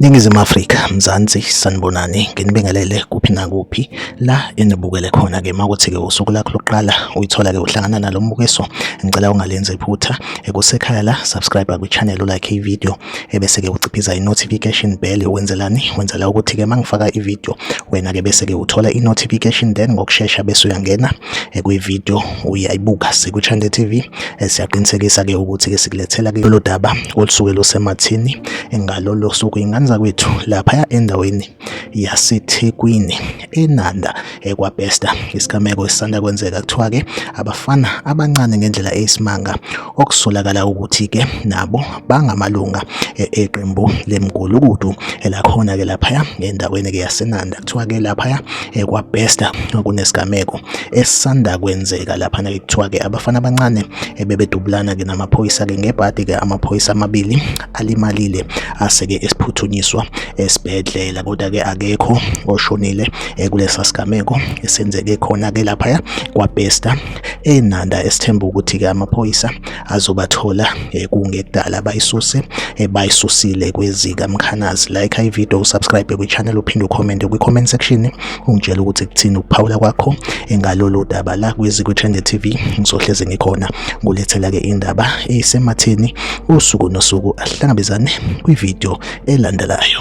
Ningizimu Afrika, Mzansi, sanibonani, nginibingelele kuphi nakuphi la enibukele khona ke makuthi ke usuku lakho lokuqala uyithola ke uhlangana nalo mbukiso, ngicela ungalenzi iphutha ekusekhaya la subscribe kwi channel like i video ebese ke uciphiza i notification bell wenzelani wenzela ukuthi ke mangifaka i video wena ke bese ke uthola i notification then ngokusheshsha bese uyangena eh, kwi video uyayibuka siku Chande TV eh, siyaqinisekisa ke ukuthi ke sikulethela ke lolu daba olusuke lusemathini engalolo suku ingane zakwethu lapha endaweni yaseThekwini eNanda ekwaBester. Isigameko esisanda kwenzeka kuthiwa-ke abafana abancane ngendlela eyisimanga okusolakala ukuthi-ke nabo bangamalunga e-, eqembu lemgulukudu elakhona-ke laphaya endaweni-ke yaseNanda. Kuthiwa-ke laphaya ekwaBester kunesigameko esisanda kwenzeka laphana-ke kuthiwa-ke abafana abancane ebebedubulana-ke namaphoyisa-ke ngebhadi-ke amaphoyisa amabili alimalile aseke esiphuthunyiswa esibhedlela kodwa ke akekho oshonile eh, kulesa sigameko esenzeke khona ke lapha kwaBesta enanda esithemba ukuthi ke amaphoyisa azobathola eh, kungekudala bayisuse eh, bayisusile kwezika mkhanazi like i video subscribe kwi channel uphinde ucomment kwi comment section ungitshela ukuthi kuthini ukuphawula kwakho ngalolu daba la kwiziko Trend TV ngizohleze ngikhona ngulethela ke indaba esematheni usuku nosuku ahlangabezane kwivideo elandelayo